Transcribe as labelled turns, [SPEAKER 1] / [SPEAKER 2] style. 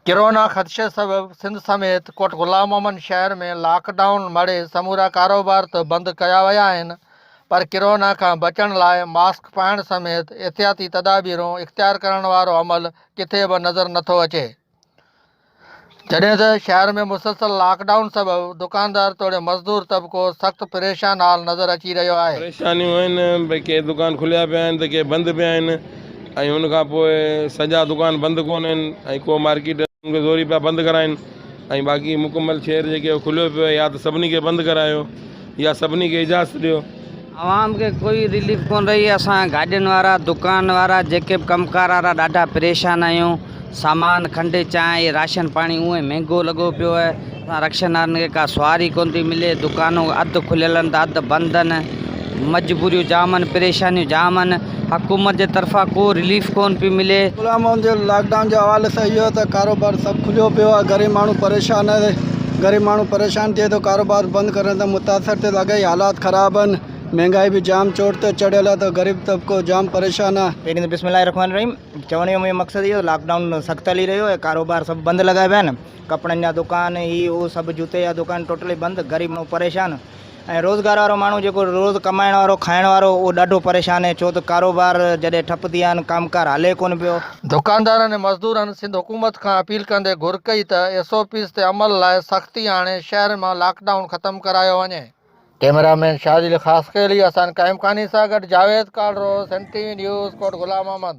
[SPEAKER 1] Corona خدشي سبب سنڌ سميت ڪوٽ غلام محمد شهر ۾ لاڪ ڊائون مڙهي سمورا ڪاروبار ته بند ڪيا ويا آهن پر ڪرونا کان بچڻ لاء ماسڪ پائڻ سميت احتياطي تدابيرون اختيار ڪرڻ وارو عمل ڪٿي به نظر نٿو اچي جڏهن ته شهر ۾ مسلسل لاڪ ڊائون سبب دڪاندار توڙي مزدور طبقو سخت پريشان حال نظر اچي رهيو آهي. پريشانيون آهن
[SPEAKER 2] ڀئي ڪي دڪان کليا پيا آهن ته ڪي بند پيا آهن. ۽ ان کان پوء سڄا دڪان بند ڪونه آهن ۽ ڪو مارڪيٽ ان کي زوري پيا بند ڪرائين ۽ باقي مڪمل شهر جيڪي اهو کليو پيو آهي يا ته سڀني کي بند ڪرايو يا سڀني کي اجازت ڏيو. عوام کي
[SPEAKER 3] ڪوئي رليف ڪونه رهي اسان گاڏين وارا دڪان وارا جيڪي به ڪم ڪار وارا ڏاڍا پريشان آهيون. سامان کنڊ چانهه راشن پاڻي اونئي مهنگو لڳو پيو آهي اسان رڪشنارن کي ڪا سواري ڪونه ٿي ملي دڪانون اڌ کليل آهن ته اڌ بند آهن مجبوريون جام آهن پريشانيون جام آهن حڪومت جي طرفان ڪو رليف ڪونه پيو ملي. غلام محمد جي لاڪ
[SPEAKER 4] ڊائون جي حوالي سان اهو آهي ته ڪاروبار سڀ کليو پيو آهي غريب ماڻهو پريشان آهي غريب ماڻهو پريشان ٿئي ٿو ڪاروبار بند ڪرڻ سان متاثر ٿئي ٿو اگهي حالات خراب آهن مهنگائي به جام چوٽ تي چڙهيل آهي ته غريب طبقو جام پريشان آهي. پهرين ته بسم الله الرحمٰن الرحيم
[SPEAKER 5] چوڻ جو منهنجو مقصد اهو لاڪ ڊائون سخت هلي رهيو آهي ڪاروبار سڀ بند لڳا پيا آهن ڪپڙن جا دڪان هي هو سڀ جوتي جا دڪان ٽوٽلي بند غريب ماڻهو پريشان ۽ روزگار وارو ماڻهو جيڪو روز ڪمائڻ وارو کائڻ وارو اهو ڏاڍو پريشان آهي ڇو ته ڪاروبار جڏهن ٺپ ٿي ويا آهن ڪم ڪار هلي ڪونه پيو. دڪاندارن ۽
[SPEAKER 1] مزدورن سنڌ حڪومت کان اپيل ڪندي گهر ڪئي ته ايس او پيز تي عمل لاء سختي آڻي شهر مان لاڪ ڊائون ختم ڪرايو وڃي. ڪيمرا مين شاهديل خاصخيلي، احسان قائمخاني سان گڏ جاويد ڪالرو، سنڌ ٽي وي نيوز، ڪوٽ غلام محمد.